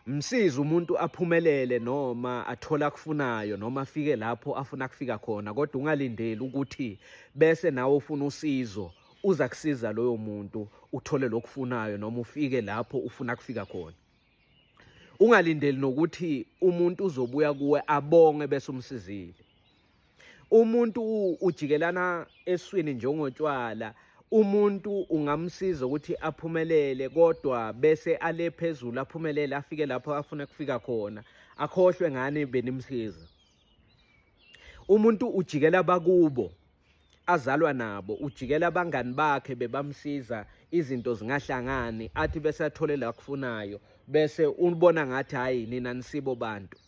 Msize umuntu aphumelele noma athola akufunayo noma afike lapho afuna kufika khona kodwa ungalindeli ukuthi bese nawe ufuna usizo uza kusiza loyo muntu uthole lokufunayo noma ufike lapho ufuna kufika khona ungalindeli nokuthi umuntu uzobuya kuwe abonge bese umsizile umuntu ujikelana eswini njengotshwala umuntu ungamsiza ukuthi aphumelele kodwa bese ale phezulu aphumelele afike lapho afuna kufika khona akhohlwe ngani benimsiza umuntu ujikela bakubo azalwa nabo ujikela abangani bakhe bebamsiza izinto zingahlangani athi bese athole la kufunayo bese ubona ngathi hayi nina nisibo bantu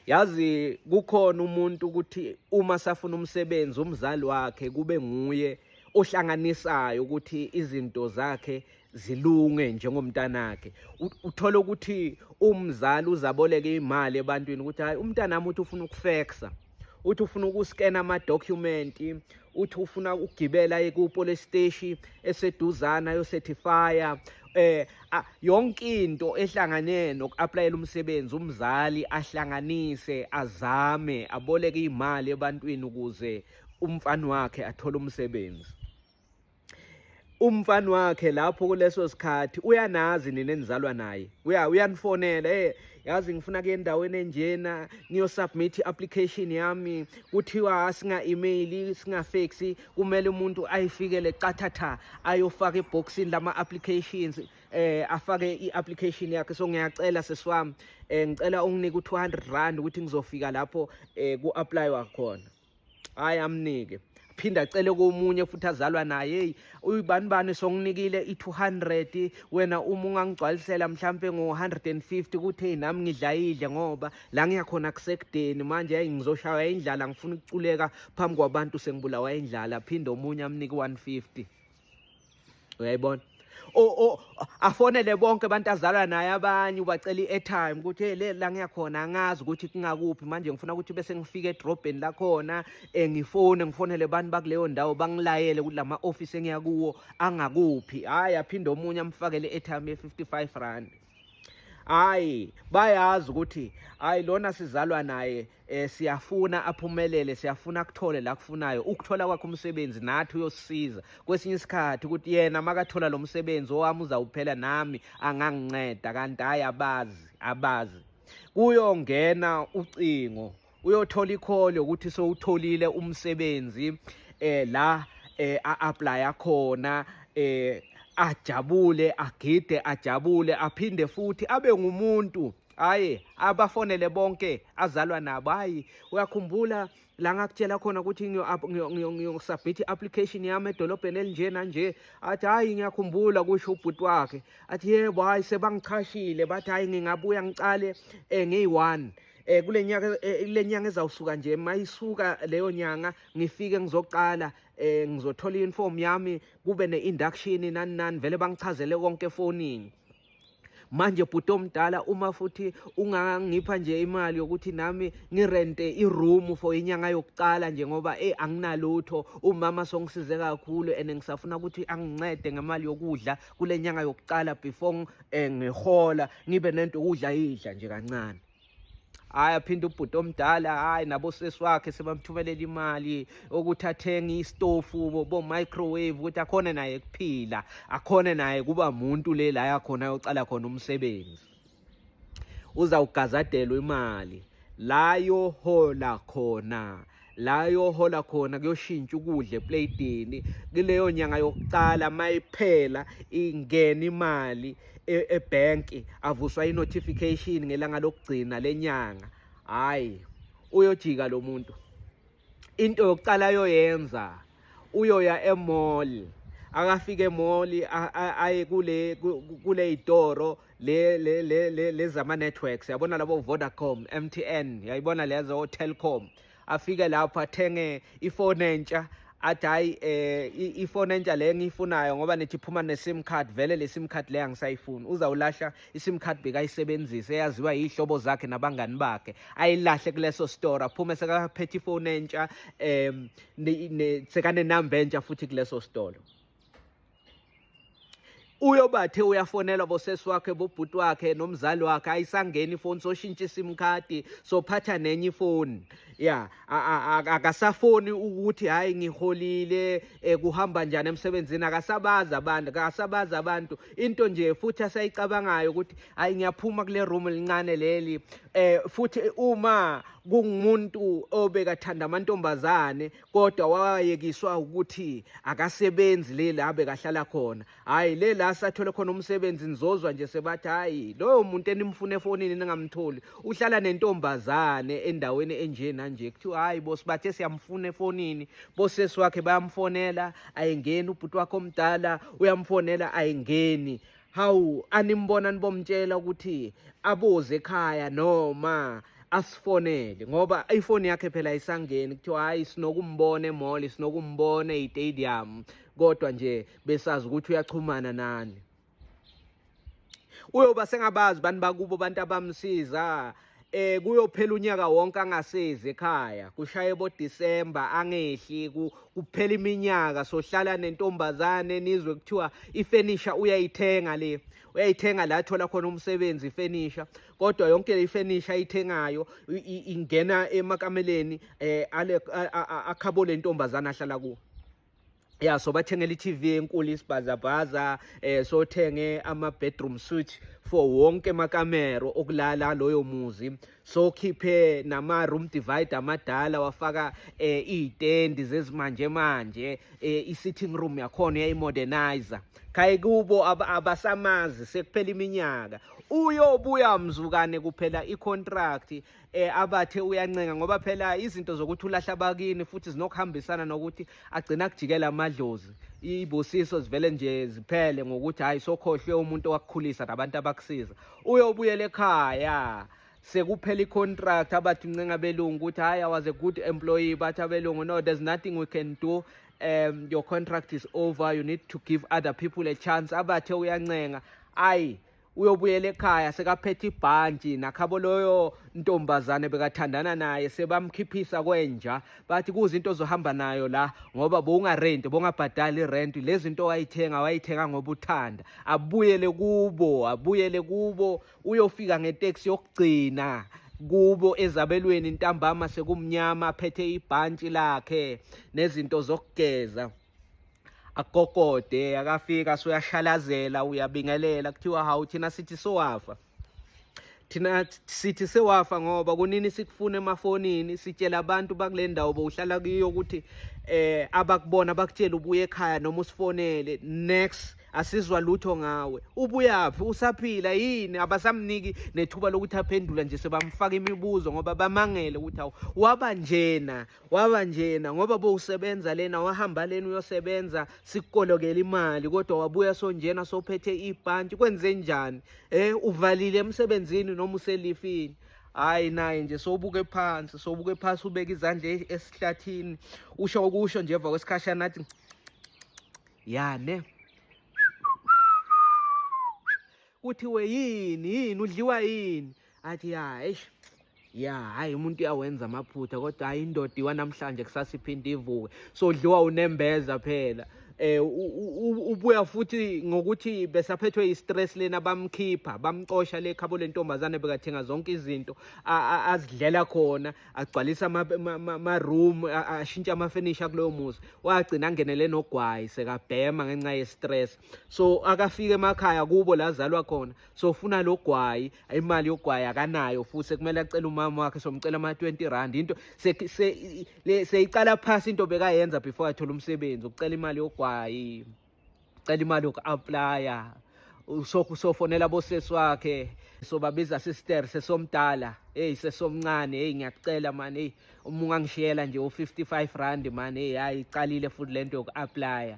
yazi kukhona umuntu ukuthi uma safuna umsebenzi umzali wakhe kube nguye ohlanganisayo ukuthi izinto zakhe zilunge njengomntanakhe uthola ukuthi umzali uzaboleka imali ebantwini ukuthi hayi umntanami uthi ufuna ukufexa uthi ufuna ukuskena ama-document uthi ufuna ukugibela ekupolice steshi eseduzana yosetifaya eh yonke into ehlangane nokuaplayela umsebenzi umzali ahlanganise azame aboleke imali ebantwini ukuze umfana wakhe athole umsebenzi umfana wakhe lapho kuleso sikhathi uyanazi nina enizalwa naye uya uyanifonela hey yazi ngifuna ke endaweni enjena niyo submit application yami kuthiwa asinga email singa fax kumele umuntu ayifikele qathatha ayofaka eboxini lama applications eh afake iapplication yakhe so ngiyacela sesiwami eh ngicela unginike u200 rand ukuthi ngizofika lapho eh ku apply wakhona hayi amnike phinde acele komunye futhi azalwa naye heyi uyibani bani songinikile i-200 wena uma ungangigcwalisela mhlampe ngo-150 kuthi heyi nami ngidlayidle ngoba la ngiyakhona kusekudeni manje yayi ngizoshaywa indlala ngifuna ukuculeka phambi kwabantu sengibulawa indlala phinde omunye amnike i-150 uyayibona afonele bonke abantu azalwa naye abanye ubacela i-airtime ukuthi hey le la ngiyakhona angazi ukuthi kungakuphi manje ngifuna ukuthi bese ngifike edrobheni lakhona um ngifone ngifonele abantu bakuleyo ndawo bangilayele ukuthi la ma-ofisi engiyakuwo angakuphi hhayi aphinde omunye amfakele i-airtime ye-fifty five rand hayi bayazi ukuthi hayi lona sizalwa naye eh, siyafuna aphumelele siyafuna kuthole la kufunayo ukuthola kwakhe umsebenzi nathi uyosiza kwesinye isikhathi ukuthi yena makathola lo msebenzi owami uzawuphela nami anganginceda kanti hayi abazi abazi kuyongena ucingo uyothola ikhole ukuthi sowutholile umsebenzi eh la eh a-apply khona eh ajabule agide ajabule aphinde futhi abe ngumuntu hayi abafonele bonke azalwa nabo hayi uyakhumbula la ngakutshela khona ukuthi ngiyosubmit i-application yami edolobheni elinje nanje athi hhayi ngiyakhumbula kusho ubhuti wakhe athi yebo hhayi sebangichashile bathi hhayi ngingabuya ngicale um ngiyi-one um eh kule nyaka eh, le nyanga ezawusuka nje mayisuka leyo nyanga ngifike ngizoqala eh ngizothola uniform yami kube neinduction nani nani vele bangichazele konke efonini manje bhuti omdala uma futhi ungangipha nje imali yokuthi nami ngirente iroom for inyanga yokuqala nje ngoba eh anginalutho umama songisize kakhulu and ngisafuna ukuthi angincede ngemali yokudla kule nyanga yokuqala before eh, ngihola ngibe nento ukudla idla nje kancane hayi aphinde ubhuti omdala hayi nabo sesi wakhe sebamthumelela imali ukuthi athenge istofu bo-microwave ukuthi akhone naye kuphila akhone naye kuba muntu le la yakhona yocala khona umsebenzi uzawugazadelwa imali la yohola khona la yohola khona kuyoshintsha ukudla epleyidini kuleyo nyanga yokuqala mayiphela ingena imali e-, ebhenki avuswa i-notification ngelanga lokugcina lenyanga hayi uyojika lo muntu into yokuqala ayoyenza uyoya emall akafike emall aye kule kule itoro le le le lezama networks yabona labo Vodacom MTN yayibona lezo Telkom afike lapho athenge ifone entsha athi hayi eh ifone entsha le ngiyifunayo ngoba nithi phuma ne-sim card vele le-sim card le angisayifuni uzawulahla isim card bekayisebenzisa eyaziwa yihlobo zakhe nabangani bakhe ayilahle kuleso store aphume sekaphethe ifoni entsha um sekanenamba entsha futhi kuleso sitolo uyobathe uyafonelwa bosesi wakhe bobhuti wakhe nomzali wakhe ayisangeni ifoni soshintsha isim card sophatha nenye ifoni ya akasafoni ukuthi hayi ngiholile eh, kuhamba njani emsebenzini akasabazi abantu akasabazi abantu into nje futhi asayicabangayo ukuthi hayi ngiyaphuma kule room elincane leli eh futhi uma kungumuntu obekathanda amantombazane kodwa wayekiswa ukuthi akasebenzi leli abekahlala khona hayi le la sathole khona umsebenzi nizozwa nje sebathi hayi loyo muntu enimfuna efonini ningamtholi uhlala nentombazane endaweni enje nanje kuthiwa hayi bosi bathe siyamfuna efonini bosesi wakhe bayamfonela ayengeni ubhuti wakhe omdala uyamfonela ayengeni hawu animbona nibomtshela ukuthi aboze ekhaya noma asifonele ngoba ifoni yakhe phela isangeni kuthiwa hayi sinokumbona emall sinokumbona eyitadium kodwa nje besazi ukuthi uyaxhumana nani uyoba sengabazi bantu bakubo abantu abamsiza eh kuyophela unyaka wonke angasezi ekhaya kushaye bo December angehli kuphela iminyaka sohlala nentombazane nizwe kuthiwa ifurniture uyayithenga le uyayithenga la thola khona umsebenzi ifurniture kodwa yonke le ifurniture ayithengayo ingena emakameleni eh ale akhabole intombazana ahlala kuwo ya so bathengela i-tv enkulu isibhazabhaza eh sothenge ama-bedroom suite for wonke amakamero okulala loyo muzi sokhiphe nama-room divider amadala wafaka eh iy'tendi zezimanje manje eh i-sitting room yakhona yayimodernizer khaye kubo abasamazi sekuphela iminyaka uyobuya mzukane kuphela i-contract eh abathe uyancenga ngoba phela izinto zokuthi ulahla abakini futhi zinokuhambisana nokuthi agcina kujikela amadlozi ibusiso zivele nje ziphele ngokuthi hayi sokhohlwe umuntu wakukhulisa nabantu abakusiza uyobuyela ekhaya sekuphela i-contract abathi uncenga belungu ukuthi hayi i was a good employee bathi abelungu no there's nothing we can do um your contract is over you need to give other people a chance abathe uyancenga ayi uyobuyela ekhaya sekaphethe ibhantshi nakhabo loyo ntombazane bekathandana naye sebamkhiphisa kwenja bathi kuze into ozohamba nayo la ngoba bowungarenti bongabhadali irenti lezi nto wayithenga wayithenga ngoba uthanda abuyele kubo abuyele kubo uyofika ngeteksi yokugcina kubo ezabelweni ntambama sekumnyama aphethe ibhantshi lakhe nezinto zokugeza akokode akafika soyashalazela uyabingelela kuthiwa hawu thina sithi sowafa thina sithi sewafa ngoba kunini sikufuna emafonini sitshela abantu bakule ndawo bowuhlala kuyo ukuthi eh abakubona bakutshela ubuye ekhaya noma usifonele next asizwa lutho ngawe ubuyaphi usaphila yini abasamniki nethuba lokuthi aphendula nje sebamfaka imibuzo ngoba bamangele ukuthi awu waba njena waba njena ngoba bowusebenza lena wahamba lena uyosebenza sikukolokela imali kodwa wabuya sonjena sophethe ibhanti kwenze njani eh uvalile emsebenzini noma uselifini hayi naye nje sobuke phansi sobuke phansi ubeka izandla e-, esihlathini usho okusho nje emva kwesikhashana athi yane kuthiwe yini yini udliwa yini athi ya eish ya hayi umuntu uyawenza amaphutha kodwa hayi indoda iwa namhlanje kusasa iphinde ivuke sodliwa unembeza phela eh ubuya futhi ngokuthi besaphethwe istress lena bamkhipha bamcosha le khabo lentombazane bekathenga zonke izinto azidlela khona agcwalisa ama room ashintsha ama furniture kuloyo muzi wagcina angenele nogwayi sekabhema ngenxa ye stress so akafike emakhaya kubo lazalwa khona so ufuna lo gwayi imali yogwayi akanayo futhi kumele acele umama wakhe somcela ama-20 rand into seyiqala phasi into bekayenza before athole umsebenzi ukucela imali yogwayi ucela imali yoku-aplya usofonela abosesi wakhe sobabiza sister sesomdala eyi sesomncane eyi ngiyakucela mani eyi uma ungangishiyela nje u-55 rand mani eyi hayi iqalile futhi le nto yoku-aplya